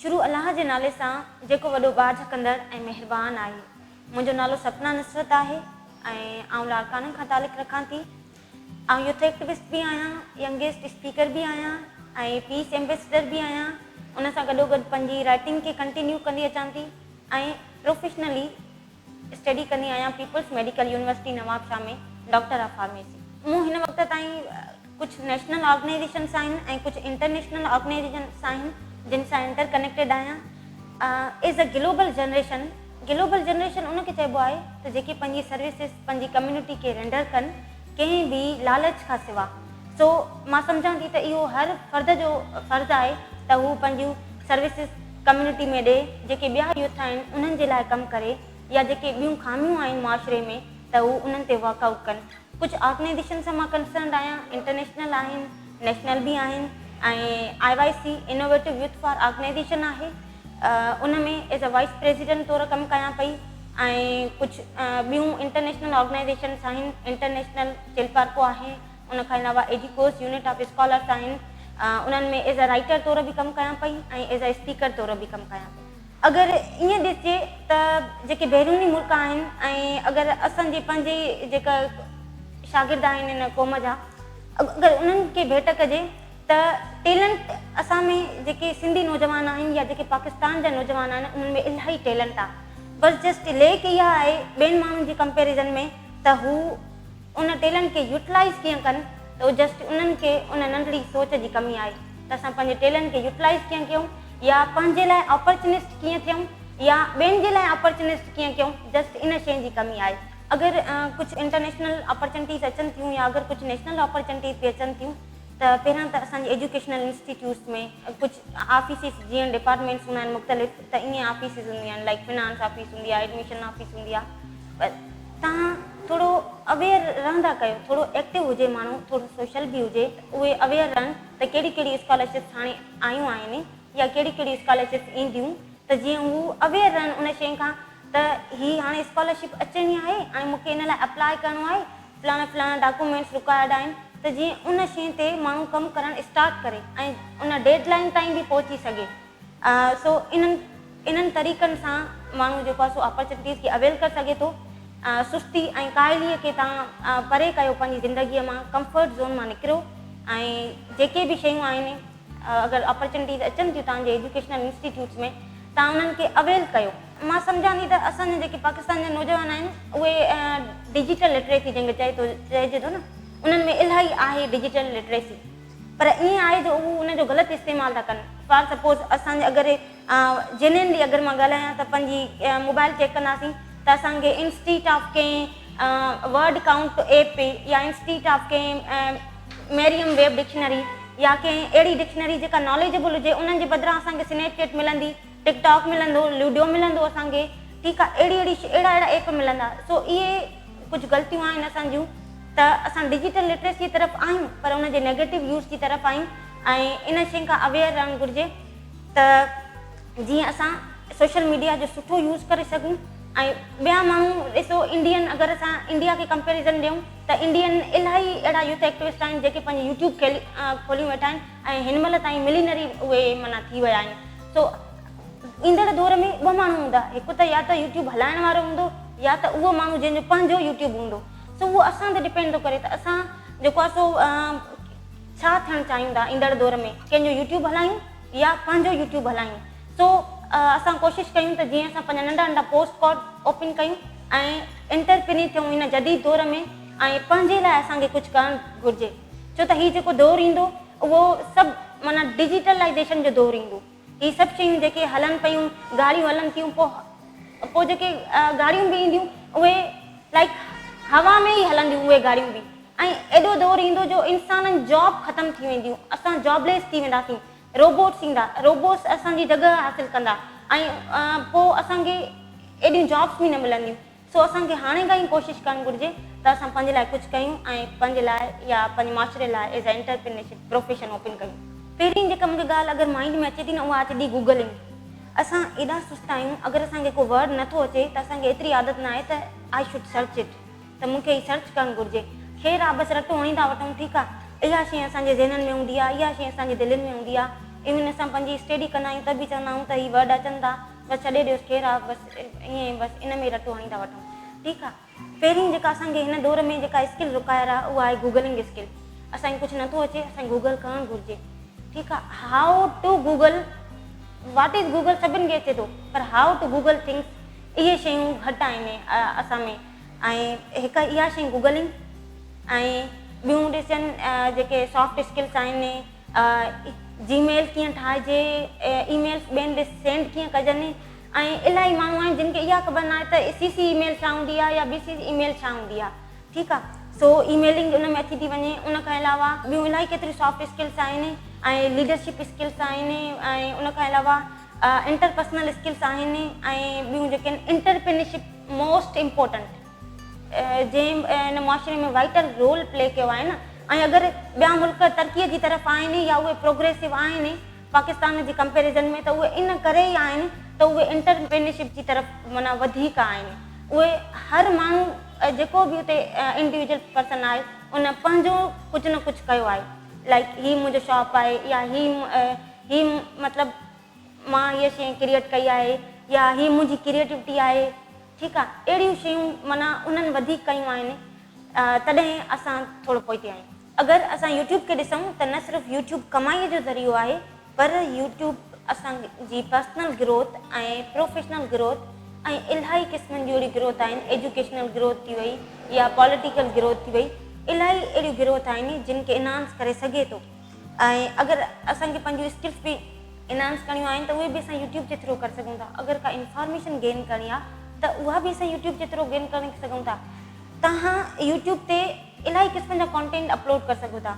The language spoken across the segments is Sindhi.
شروع الله جي نالي سان جيڪو وڏو ٻاجهه ڪندڙ ۽ مهربان آهي. منهنجو نالو سپنا نصرت آهي ۽ آئون لاڙڪاڻن کان تعلق رکان ٿي. آئون يوٿ ايڪٽوسٽ به آهيان، ينگيسٽ اسپيڪر به آهيان ۽ پيس ايمبيسڊر به آهيان. ان سان گڏوگڏ پنهنجي رائٽنگ کي ڪنٽينيو ڪندي اچان ٿي ۽ پروفيشنلي، اسٽڊي ڪندي آهيان Peoples Medical University Nawabshah ۾ doctor of pharmacy. مون هن وقت تائين ڪجهه نيشنل آرگنائيزيشن سان آهن ۽ ڪجهه انٽرنيشنل آرگنائيزيشن سان آهن جن سان انٽر ڪنيڪٽيڊ آهيان as a global generation global generation ان کي چئبو آهي ته جيڪي پنهنجي سروسز پنهنجي ڪميونٽي کي رينڊر ڪن. ڪنهن به لالچ کان سوا. سو مان سمجهان ٿي ته اهو هر فرد جو فرض آهي ته هو پنهنجيون سروسز ڪميونٽي ۾ ڏي، جيڪي ٻيا يوٿ آهن انهن جي لاء ڪم ڪري يا جيڪي ٻيون خاميون آهن معاشري ۾ ته هو انهن تي ورڪ آئوٽ ڪن. ڪجهه آرگنائيزيشن سان مان ڪنسرنڊ آهيان، انٽرنيشنل آهن، نيشنل به آهن ۽ I I C innovative youth for organization آهي ان ۾ ايز اي وائيس پريزيڊنٽ طور ڪم ڪيان پئي ۽ ڪجهه ٻيون انٽرنيشنل آرگنائيزيشنس آهن انٽرنيشنل چيلپارڪو آهي ان کان علاوه ايڊيڪوس يونٽ آف اسڪالرس آهن انهن ۾ ايز اي رائيٽر طور به ڪم ڪيان پئي ۽ ايز اي اسپيڪر طور به ڪم ڪيان پئي اگر ائين ڏسجي ته جيڪي بيروني ملڪ آهن ۽ اگر اسان جي پنهنجي جيڪا شاگرد آهن ان قوم جا اگر انهن کي ڀيٽ ڪجي ته ٽيلنٽ اسان ۾ جيڪي سنڌي نوجوان آهن يا جيڪي پاڪستان جا نوجوان آهن انهن ۾ الاهي ٽيلنٽ آهي بس جسٽ ليڪ اها آهي ٻين ماڻهن جي ڪمپيرزن ۾ ته هو ان ٽيلنٽ کي يوٽلائيز ڪيئن ڪن ته او جسٽ انهن کي ان ننڍڙي سوچ جي ڪمي آهي ته اسان پنهنجي ٽيلنٽ کي يوٽلائيز ڪيئن ڪيون يا پنهنجي لاء اپرچنسٽ ڪيئن ٿيون يا ٻين جي لاء اپرچنسٽ ڪيئن ڪيون جسٽ ان شين جي ڪمي آهي اگر ڪجهه انٽرنيشنل اپرچنٽيز اچن ٿيون يا اگر ڪجهه نيشنل اپرچنٽيز به اچن ٿيون ته پهريان ته اسان جي ايجوڪيشنل انسٽيٽيوٽس ۾ ڪجهه آفيسز جيئن ڊپارٽمينٽس هوندا آهن مختلف ته ائين آفيسز هونديون آهن لائڪ فنانس آفيس هوندي آهي ايڊميشن آفيس هوندي آهي پر تهان ٿورو اويئر رهندا ڪيو ٿورو ايڪٽو هجي ماڻهو ٿورو سوشل به هجي اهي اويئر رهن ته ڪهڙي ڪهڙي اسڪالرشپس هاڻي آيون آهن يا ڪهڙي ڪهڙي اسڪالرشپس اينديون ته جيئن هو اويئر رهن ان شين کان ته هي هاڻي اسڪالرشپ اچڻي آهي ۽ مون کي ان لاء اپلاء ڪرڻو آهي فلاڻا فلاڻا ڊاڪومينٽس رڪوائرڊ آهن ته جيئن ان شين تي ماڻهو ڪم ڪرڻ اسٽارٽ ڪري ۽ ان ڊيڊ لائين تائين به پهچي سگهي سو انهن انهن طريقن سان ماڻهو جيڪو آهي سو اپرچونيٽيز کي اويل ڪري سگهي ٿو سستي ۽ ڪاهلي کي تان پري ڪيو پنهنجي زندگي مان ڪمفرٽ زون مان نڪريو ۽ جيڪي به شيون آهن اگر اپرچونٽيز اچن ٿيون تهان جي ايجوڪيشنل انسٽيٽيوٽس ۾ تهان انهن کي اويل ڪيو. مان سمجهان ٿي ته اسان جا جيڪي پاڪستان جا نوجوان آهن اهي ڊجيٽل لٽريسي جنهن کي چئي ٿو چئجي ٿو نه انهن ۾ الاهي آهي ڊجيٽل لٽريسي پر ائين آهي جو هو ان جو غلط استعمال ٿا ڪن فار سپوز اسان جي اگر جنين جي اگر مان ڳالهايان ته پنهنجي موبائل چيڪ ڪنداسين ته اسان کي انسٽيٽ آف ڪنهن ورڊ ڪائونٽ ايپ يا انسٽيٽ آف ڪنهن ميريم ويب ڊڪشنري يا ڪنهن اهڙي ڊڪشنري جيڪا ناليجبل هجي انهن جي بدران اسان کي سنيپ چيٽ ملندي ٽڪ ٽاڪ ملندو لوڊيو ملندو اسان کي ٺيڪ آهي اهڙي اهڙي اهڙا اهڙا ايپ ملندا سو اهي ڪجهه غلطيون آهن اسان جون ته اسان ڊجيٽل لٽريسي طرف آهيون پر ان جي نيگيٽو يوز جي طرف آهيون ۽ ان شين کان اويئر رهڻ گهرجي. ته جيئن اسان سوشل ميڊيا جو سٺو يوز ڪري سگهون ۽ ٻيا ماڻهو ڏسو انڊين اگر اسان انڊيا کي ڪمپيريزن ڏيون ته انڊين الاهي اهڙا يوٿ ايڪٽوسٽ آهن جيڪي پنهنجي يوٽيوب کوليون ويٺا آهن ۽ هن مهل تائين ملينري اهي معنيٰ ٿي ويا آهن سو ايندڙ دور ۾ ٻه ماڻهو هوندا هڪ ته يا ته يوٽيوب هلائڻ وارو هوندو يا ته اهو ماڻهو جنهن جو پنهنجو يوٽيوب هوندو سو اهو اسان تي ڊپينڊ ٿو ڪري ته اسان جيڪو آهي سو ڇا ٿيڻ چاهيون ٿا ايندڙ دور ۾ ڪنهن جو يوٽيوب هلايون يا پنهنجو يوٽيوب هلايون سو اسان ڪوشش ڪيون ته جيئن اسان پنهنجا ننڍا ننڍا پوسٽ ڪارڊ اوپن ڪيون ۽ انٽرپريني ٿيون هن جديد دور ۾ ۽ پنهنجي لاء اسان کي ڪجهه ڪرڻ گهرجي ڇو ته هي جيڪو دور ايندو اهو سڀ معنيٰ ڊجيٽلائيزيشن جو دور ايندو. هي سڀ شيون جيڪي هلن پيون گاڙيون هلن ٿيون پو پو جيڪي گاڙيون به اينديون اهي لائڪ هوا ۾ ئي هلنديون اهي گاڙيون به ۽ ايڏو دور ايندو جو انسانن جاب ختم ٿي وينديون اسان جاب ليس ٿي وينداسين روبوٽس ايندا روبوٽس اسان جي جڳهه حاصل ڪندا ۽ پو اسان کي ايڏيون جابس به نه ملنديون. سو اسان کي هاڻي کان ئي ڪوشش ڪرڻ گهرجي ته اسان پنهنجي لاء ڪجهه ڪيون ۽ پنهنجي لاء يا پنهنجي معاشري لاء as a entrepreneurship profession open ڪيون. پهرين جيڪا مون کي ڳالهه اگر مائنڊ ۾ اچي ٿي نه اها اچي ٿي گوگلنگ. اسان ايڏا سست آهيون اگر اسان کي ڪو ورڊ نه ٿو اچي ته اسان کي ايتري عادت نه آهي ته آء شوڊ سرچ اٽ ته مون کي هي سرچ ڪرڻ گهرجي. خير آ بس رٽو هڻي ٿا وٺون ٺيڪ آ. اها شيء اسان جي ذهنن ۾ هوندي آ اها شيء اسان جي دلين ۾ هوندي آ. ايون اسان پنهنجي اسٽيڊي ڪندا آهيون ته به چوندا آهيون ته هي ورڊ اچن ٿا. بس ڇڏي ڏيوس ڪير آ بس ائين ئي بس ان ۾ رٽو هڻي ٿا وٺون ٺيڪ آ پهرين جيڪا اسان کي هن دور ۾ جيڪا اسڪل رڪائر آ اها آهي گوگلنگ اسڪل اسان کي ڪجهه نٿو اچي اسان کي گوگل ڪرڻ گهرجي ٺيڪ آ how to Google what is Google سڀن کي اچي ٿو پر هائو ٽو گوگل ٿنگس اهي شيون گهٽ آهن اسان ۾ ۽ هڪ اها شي گوگلنگ ۽ ٻيون ڏسجن جيڪي سافٽ اسڪلس آهن جي ميل ڪيئن ٺاهجي، اي ميلز ٻين ڏي سينڊ ڪيئن ڪجن ۽ الاهي ماڻهو آهن جن کي اها خبر نه آهي ته سي سي اي ميل ڇا هوندي آهي يا بي سي اي ميل ڇا هوندي آهي ٺيڪ آهي سو اي ميلنگ ان ۾ اچي ٿي وڃي ان کان علاوه ٻيون الاهي ڪيتريون سافٽ اسڪلس آهن ۽ ليڊرشپ اسڪلس آهن ۽ ان کان علاوه انٽر پرسنل اسڪلس آهن ۽ ٻيون جيڪي انٽرپرينشپ موسٽ امپورٽنٽ جنهن ان معاشري ۾ وائيٽل رول پلي ڪيو آهي نه ۽ اگر ٻيا ملڪ ترقي جي طرف آهن يا اهي پروگريسو آهن پاڪستان جي ڪمپيرزن ۾ ته اهي ان ڪري ئي آهن ته اهي انٽرپرينرشپ جي طرف معنيٰ وڌيڪ آهن اهي هر ماڻهو جيڪو به اتي انڊيوجل پرسن آهي ان پنهنجو ڪجهه نه ڪجهه ڪيو آهي لائڪ هي منهنجو شاپ آهي يا هي هي مطلب مان هيء شيء ڪريئيٽ ڪئي آهي يا هي منهنجي ڪريئيٽوٽي آهي. ٺيڪ آ اهڙيون شيون معنيٰ انهن وڌيڪ ڪيون آهن تڏهن اسان ٿورو پوئتي آهيون اگر اسان يوٽيوب کي ڏسون ته نه صرف يوٽيوب ڪمائي جو ذريعو آهي پر يوٽيوب اسان جي پرسنل گروٿ ۽ پروفيشنل گروٿ ۽ الاهي قسمن جون اهڙيون گروٿ آهن ايجوڪيشنل گروٿ ٿي وئي يا پاليٽيڪل گروٿ ٿي وئي الاهي اهڙيون گروٿ آهن جن کي انهانس ڪري سگهي ٿو. ۽ اگر اسان کي پنهنجون اسڪلس به انهانس ڪرڻيون آهن ته اهي به اسان يوٽيوب جي ٿرو ڪري سگهون ٿا اگر ڪا انفارميشن گين ڪرڻي آهي ته اها به اسان يوٽيوب جي ٿرو گين ڪري سگهون ٿا توهان يوٽيوب تي الاهي قسمن جا ڪانٽينٽ اپلوڊ ڪري سگهو ٿا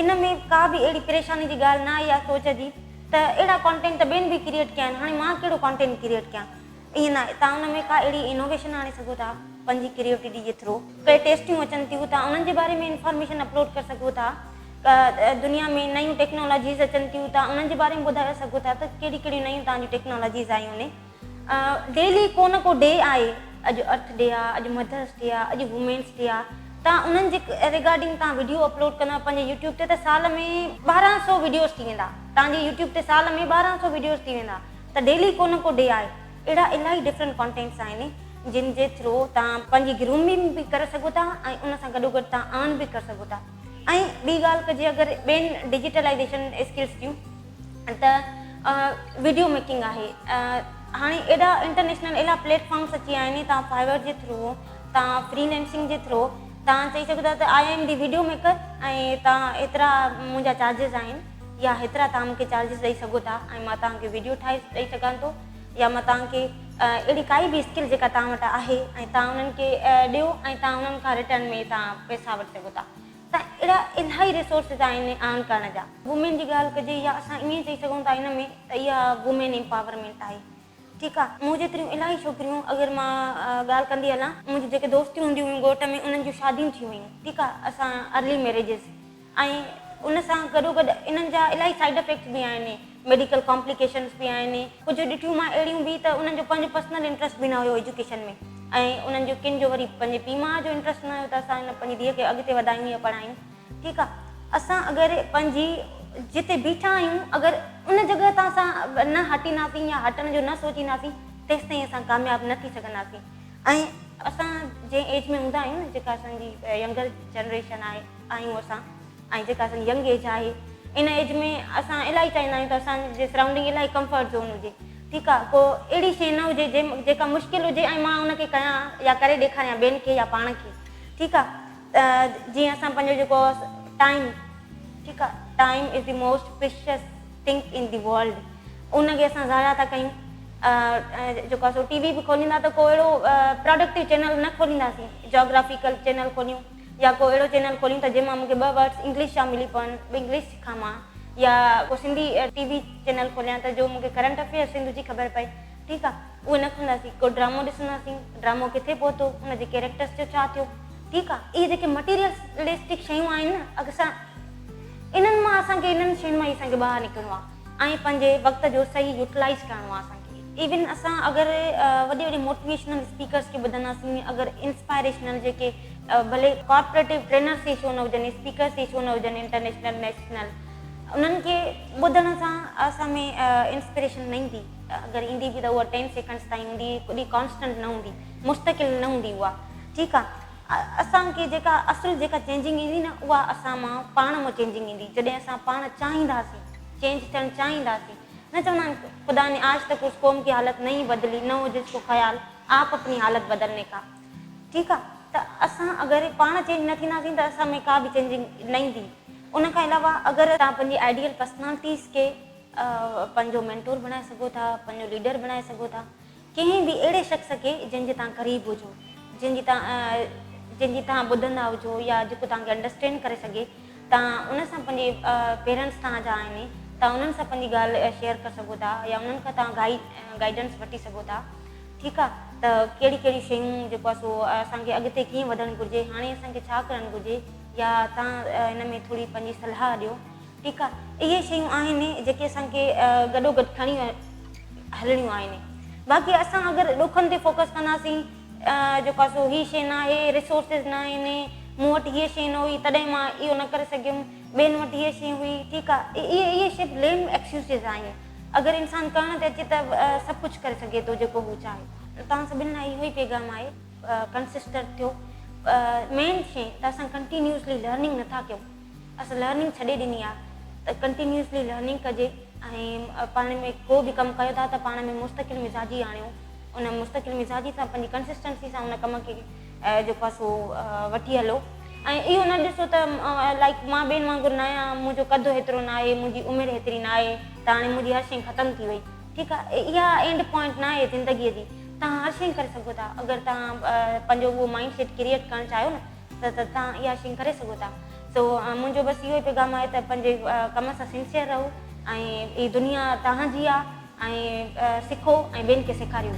ان ۾ ڪا به اهڙي پريشاني جي ڳالهه نه آئي آهي سوچ جي ته اهڙا ڪانٽينٽ ته ٻين به ڪريئيٽ ڪيا آهن هاڻي مان ڪهڙو ڪانٽينٽ ڪريئيٽ ڪيان ائين ناهي تان ان ۾ ڪا اهڙي انوويشن آڻي سگهو ٿا پنهنجي ڪريوٽيڊي جي ٿرو ڪي ٽيسٽيون اچن ٿيون تان انهن جي باري ۾ انفارميشن اپلوڊ ڪري سگهو ٿا ڪا دنيا ۾ نيون ٽيڪنالاجيز اچن ٿيون تان انهن جي باري ۾ ٻڌايو سگهو ٿا ته ڪهڙي ڪهڙيون نيون تان جون ٽيڪنالاجيز آيون ني ڊيلي ڪو نه ڪو ڊي آهي اڄ ارٿ ڊي آهي اڄ مڌرس ڊي آهي اڄ وومينس ڊي آهي تان انهن جي ريگارڊنگ تان وڊيو اپلوڊ ڪندا پنهنجي يوٽيوب تي ته سال ۾ ٻارهن سو وڊيوز ٿي ويندا تان جي يوٽيوب تي سال ۾ ٻارهن سو وڊيوز ٿي ويندا ته ڊيلي ڪو نه ڪو ڊي آهي اهڙا الاهي ڊفرنٽ ڪانٽينٽس آهن جن جي ٿرو تان پنهنجي گرومنگ به ڪري سگهو ٿا ۽ ان سان گڏو گڏ تان ارن به ڪري سگهو ٿا ۽ ٻي ڳالهه ڪجي اگر ٻين ڊجيٽلائيزيشن اسڪلس جون ته ويڊيو ميڪنگ آهي هاڻي ايڏا انٽرنيشنل الاهي پليٽ فارمس اچي ويا آهن تان فائيور جي ٿرو تان فري لينسنگ جي ٿرو تان چئي سگهو ٿا ته I am the video maker ۽ تان ايترا منهنجا چارجز آهن يا هيترا توهان مونکي چارجز ڏئي سگهو ٿا ۽ مان توهان کي ويڊيو ٺاهي ڏئي سگهان ٿو يا مان توهان کي اهڙي ڪائي به اسڪل جيڪا توهان وٽ آهي ۽ توهان انهن کي ڏيو ۽ توهان انهن کان رٽرن ۾ توهان پئسا وٺي سگهو ٿا ته اهڙا الاهي ريسورسز آهن ارن ڪرڻ جا وومين جي ڳالهه ڪجي يا اسان ائين چئي سگهون ٿا هن ۾ ته اها وومين امپاورمينٽ آهي ٺيڪ آهي مون جيتريون الاهي ڇوڪريون اگر مان ڳالهه ڪندي هلان منهنجي جيڪي دوستيون هونديون هيون ڳوٺ ۾ انهن جون شاديون ٿي ويون ٺيڪ آهي اسان ارلي ميريجز ۽ ان سان گڏوگڏ انهن جا الاهي سائيڊ افيڪٽس به آهن، ميڊيڪل ڪامپليڪيشنس به آهن، ڪجهه ڏٺيون مان اهڙيون به ته انهن جو پنهنجو پرسنل انٽرسٽ به نه هيو ايجوڪيشن ۾ ۽ انهن جو ڪن جو وري پنهنجي پيء ماء جو انٽرسٽ نه هيو ته اسان هن پنهنجي ڌيء کي اڳتي وڌايون يا پڙهايون ٺيڪ آ اسان اگر پنهنجي جتي بيٺا آهيون اگر ان جڳهه تان اسان نه هٽينداسين يا هٽڻ جو نه سوچينداسين تيستائين اسان ڪامياب نه ٿي سگهنداسين ۽ اسان جنهن ايج ۾ هوندا آهيون نه جيڪا اسان جي ينگر جنريشن آهي. آهيون اسان ۽ جيڪا اسان جي ينگ ايج آهي ان ايج ۾ اسان الاهي چاهيندا آهيون ته اسان جي سرائونڊنگ الاهي ڪمفرٽ زون هجي ٺيڪ آهي ڪو اهڙي شي نه هجي جيڪا مشڪل هجي ۽ مان ان کي ڪيان يا ڪري ڏيکاريان ٻين کي يا پاڻ کي ٺيڪ آهي جيئن اسان پنهنجو جيڪو ٽائيم ٺيڪ آهي time is the most precious thing in the world ان کي اسان ضايع ٿا ڪيون جيڪو اسان ٽي وي به کوليندا ته ڪو اهڙو پروڊڪٽو چينل نه کولينداسين جاگرافيڪل چينل کوليون يا ڪو اهڙو چينل کولين ٿا جنهن مان مون کي ٻه ورڊس انگلش جا ملي پون به انگلش سکان مان يا ڪو سنڌي ٽي وي چينل کوليان ته جو مون کي ڪرنٽ افيئر سنڌ جي خبر پئي ٺيڪ آ اهي نه کولنداسين ڪو ڊرامو ڏسنداسين ڊرامو ڪٿي پهتو ان جي ڪيريڪٽرس جو ڇا ٿيو ٺيڪ آ اهي جيڪي مٽيريلسٽڪ شيون آهن نه اڪثر انهن مان اسان کي انهن شين مان ئي اسان کي ٻاهر نڪرڻو آ. ۽ پنهنجي وقت جو صحيح يوٽلائيز ڪرڻو آهي اسان کي ايون اسان اگر وڏي وڏي موٽيويشنل اسپيڪرس کي ٻڌنداسين اگر انسپائريشنل جيڪي ڀلي ڪارپوريٽو ٽرينرس ئي ڇو نه هجن اسپيڪرس ئي ڇو نه هجن انٽرنيشنل نيشنل انهن کي ٻڌڻ سان اسان ۾ انسپريشن نه ايندي اگر ايندي به ته اها ٽين سيڪنڊس تائين هوندي ڪڏهن ڪانسٽنٽ نه هوندي مستقل نه هوندي اها ٺيڪ آهي اسان کي جيڪا اصل جيڪا چينجنگ ايندي نه اها اسان مان پاڻ مان چينجنگ ايندي جڏهن اسان پاڻ چاهينداسين چينج ٿيڻ چاهينداسين نه چوندا آهن خدا ني آج تڪ اس قوم ڪي حالت نهين بدلي نه هو جس ڪو خيال آپ اپني حالت بدلني ڪا ٺيڪ آ ته اسان اگر پاڻ چينج نه ٿينداسين ته اسان ۾ ڪا به چينجنگ نه ايندي ان کان علاوه اگر توهان پنهنجي آئيڊيل پرسنالٽيز کي پنهنجو مينٽور بڻائي سگهو ٿا پنهنجو ليڊر بڻائي سگهو ٿا. ڪنهن به اهڙي شخص کي جنهن جي توهان قريب هجو جنهن جي جنهن جي توهان ٻڌندا هجو يا جيڪو توهان کي انڊرسٽينڊ ڪري سگهي توهان ان سان پنهنجي پيرنٽس توهان جا آهن توهان انهن سان پنهنجي ڳالهه شيئر ڪري سگهو ٿا يا انهن کان توهان گائي گائيڊنس وٺي سگهو ٿا ٺيڪ آهي ته ڪهڙي ڪهڙي شيون جيڪو آهي سو اسان کي اڳتي ڪيئن وڌڻ گهرجي هاڻي اسان کي ڇا ڪرڻ گهرجي يا توهان ان ۾ ٿوري پنهنجي صلاح ڏيو ٺيڪ آ اهي شيون آهن جيڪي اسان کي گڏو گڏ کڻي هلڻيون آهن باقي اسان اگر ڏکن تي فوڪس ڪنداسين جو ڪا سو هي شي ناهي ريسورسز ناهن مون وٽ هيء شي نه هئي تڏهن مان اهو نه ڪري سگهيم ٻين وٽ هيء شي هئي ٺيڪ آ اهي اهي سڀ ليم ايڪسيوسز آهن اگر انسان ڪرڻ تي اچي ته سڀ ڪجهه ڪري سگهي ٿو جيڪو هو چاهي توهان سڀني لاء اهو ئي پيغام آهي ڪنسسٽنٽ ٿيو مين شي ته اسان ڪنٽينيوسلي لرننگ نٿا ڪيون اسان لرننگ ڇڏي ڏني آ ته ڪنٽينيوسلي لرننگ ڪجي ۽ پاڻ ۾ ڪو به ڪم ڪيو ٿا ته پاڻ ۾ مستقل مزاجي آڻيو ان مستقل مزاجي سان پنهنجي ڪنسسٽنسي سان ان ڪم کي جيڪو آ سو وٺي هلو ۽ اهو نه ڏسو ته لائڪ مان ٻين وانگر نه آهيان منهنجو قد هيترو نه آهي منهنجي عمر هيتري نه آهي ته هاڻي منهنجي هر شيء ختم ٿي وئي ٺيڪ آ اها اينڊ پوائنٽ نه آهي زندگي جي تهان هر شيء ڪري سگهو ٿا اگر تهان پنهنجو اهو مائنڊ سيٽ ڪريئيٽ ڪرڻ چاهيو نه ته توهان اها شين ڪري سگهو ٿا سو منهنجو بس اهو ئي پيغام آهي ته پنهنجي ڪم سان سنسيئر رهو ۽ هي دنيا توهان جي آهي ۽ سکو ۽ ٻين کي سيکاريو.